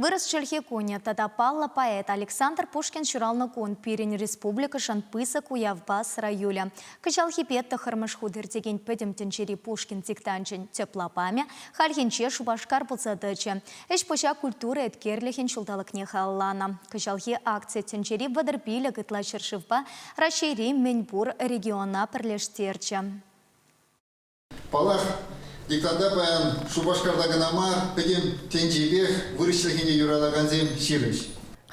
Вырӑс чӗлхи кунӗ тата паллӑ поэт Александр Пушкин ҫуралнӑ кун пирӗн республикӑшӑн пысӑк уявпа сӑра юлӗ. Кӑҫалхипе тӑххӑрмӗш хут иртекен Пӗтӗм тӗнчери Пушкин диктанчӗн тӗп лапамӗ хальхинче Шупашкар пулса тӑчӗ. Ӗҫ-пуҫа культура эткерлӗхӗн ҫулталӑкне халалланӑ кӑҫалхи акци тӗнчери вӑтӑр пилӗк ытла ҫӗршывпа Раҫҫейри мӗн пур региона пӗрлештерчӗ. Паллах, диктанта паян Шупашкарта кӑна мар, пӗтӗм тӗнчепех вырӑслӑхӗне юратакансем ҫирӗҫ.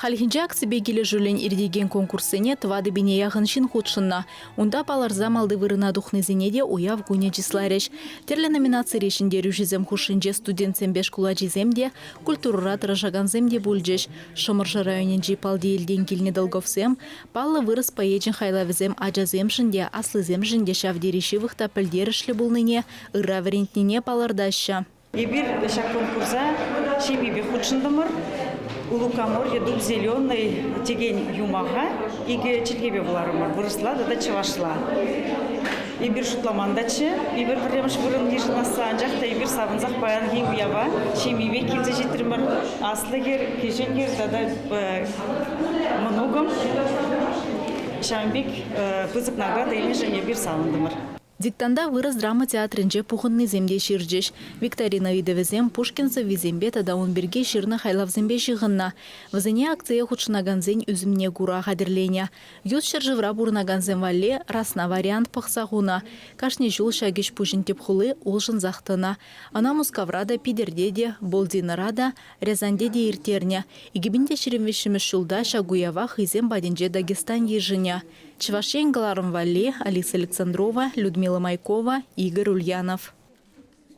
Хальхинче акципе килӗшӳллӗн иртекен конкурссене тӑватӑ-пине яхӑн ҫын хутшӑннӑ. Унта палӑрса малти вырӑна тухнисене те уяв кунӗ чысларӗҫ. Тӗрлӗ номинацире ҫӗнтерӳҫӗсем хушшинче студентсемпе шкул ачисем те, культурӑра тӑрӑшакансем те пулчӗҫ. Шӑмӑршӑ районӗнчи Палтиелтен килнӗ Долговсем Паллӑ вырӑс поэчӗн хайлавӗсем ачасемшӗн те, аслисемшӗн те ҫав тери ҫывӑх та пӗлтерӗшлӗ пулнине, ырра вӗрентнине палӑртаҫҫӗ. Эпир ҫак конкурса ҫемьепе хутшӑнтӑмӑр. Лукоморье дуб зеленый текен юмаха икӗ чӗлхепе вуларӑмӑр, вырӑсла тата чӑвашла. Эпир шутламан-таччӗ, эпир пӗрремӗш вырӑн йышӑнасса, анчах та эпир савӑнсах паянхи уява ҫемьепе килсе ҫитрӗмӗр. Аслӑ хӗр, кӗҫӗн хӗр тата Мӑнукӑм ҫавӑн пек пысӑк награда илнӗшӗн эпир савӑнтӑмӑр. Диктанта вырӑс драма театрӗнче пухӑннисем те ҫырчӗҫ. Викторина ыйтӑвӗсем Пушкин сӑввисемпе тата ун пирки ҫырнӑ хайлавсемпе ҫыхӑннӑ. Вӗсене акцие хутшӑнакансен ӳсӗмне кура хатӗрленӗ. Ют ҫӗршывра пурӑнакансем валли расна вариант пӑхса хунӑ. Кашни ҫул ҫак ӗҫ-пуҫӑн тӗп хули улшӑнсах тӑнӑ. Ӑна Мускавра та, Питӗрте те, Болдинӑра та, Рязаньте те ирттернӗ. Икӗ пин те ҫирӗм виҫҫӗмӗш ҫулта ҫак уява хӑйсем патӗнче Дагестан йышӑнӗ. Чӑваш Ен кӑларӑм валли, Алиса Александрова, Людмила Майкова, Игорь Ульянов.